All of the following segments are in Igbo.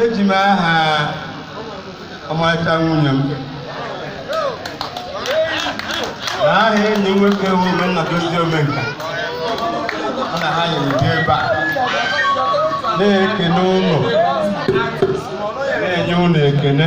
eji m aha ọmarịcha nwunye m na aha enyi nwoke bụ Omenna Dozie Omenka ọ na ha nyere dị ebe a na-ekene unu na-enye unu ekene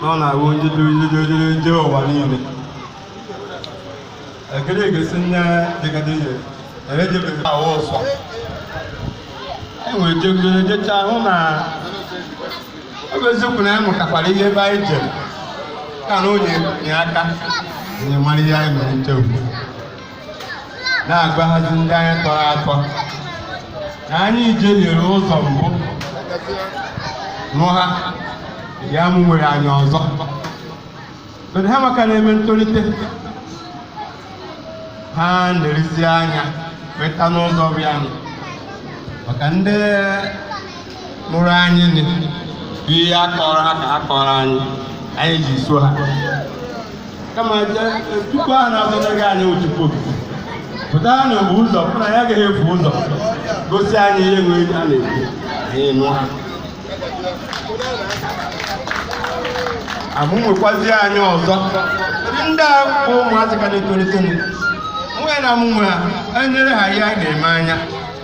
na ọ na-awụ onye dịrịdịrịdịrị ndị ụwa niile ekele egesi nne dịgadị ihe erejebeghị ahụ ụsọ enwere jegoro jecha hụ na ọ bụ eziokwu na anyị mụtakwara ihe ebe anyị jere ka na onye nye aka anyị mara ihe anyị mere nchegbu na-agbahazi ndị anyị tọrọ atọ na anyị jehiere ụzọ mbụ nụ ha ya mụ nwere anya ọzọ But ha maka na-eme ntolite ha na-elezi anya weta n'ụzọ bịa nụ maka ndị mụrụ anyị nị bụ ihe a kọrọ ha ka ha kọrọ anyị anyị ji so ha kama je- tupu a na-azọnyeghị anyị otupo pụta na mgbe ụzọ pụ na ya agaghị efu ụzọ gosi anyị ihe nwere a na-ekwu anyị nụ ha amụ nwekwazie anyị ọzọ Kedu ndị a bụ ụmụazị ka na-etolite nụ? nwunye na mụnwe ha enyere ha ihe a na-eme anya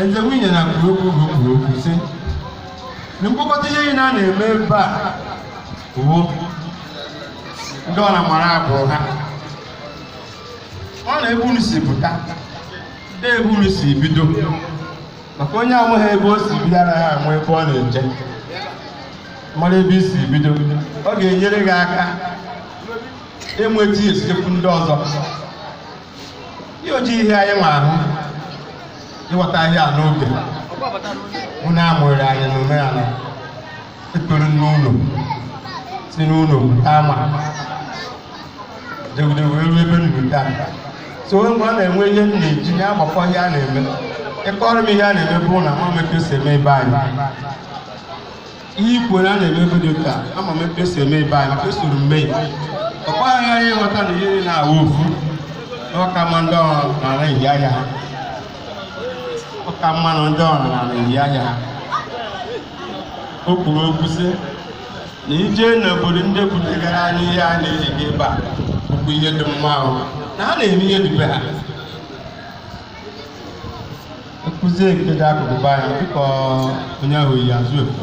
Ezi nwunye ya kwuru okwu bụ kwuru okwu sị na mkpokọta ihe niile a na-eme ebe a bụ ndị ọra mara agbụrụ ha ọ na ebe unu si pụta na ebe unu si bido maka onye amaghị ebe o si bido anaghị ama ebe ọ na-eje mara ebe i si bido ọ ga-enyere gị aka enweta step ndị ọzọ ihe o ji hịa anyị nwa ahụ ịghọta ihe a n'oge wụ na a mụrịrị anyị na omenala ekpere n'ụlọ si n'ụlọ pụta ama jegide wee ruo ebe m nọ taa so onye mgbe ọ na-enwe ihe m na-eji ya agbakọ ihe a na-eme ịkọrọ m ihe a na-eme bụ na ama m ka e si eme ebe anyị ihe i kwuru a na-eme be ndị ụka ama m etu e si eme ebe anyị maka esoro m mee ọ kwa anyị ịghọta na ihe niile na-awụ ofu kama ndị ọrụ n'ala ehi ahịa ha kama na ndị ọrụ n'ala ehi ahịa ha o kwuru okwu sị na ije n'obodo ndị butegara anyị ihe a na-eji gị ebe a bụkwa ihe dị mma ahụ na ha na-eme ihe dị be ha nkụzi nke dị akụkụ be anyị dịka onye ahụ yi azụ efu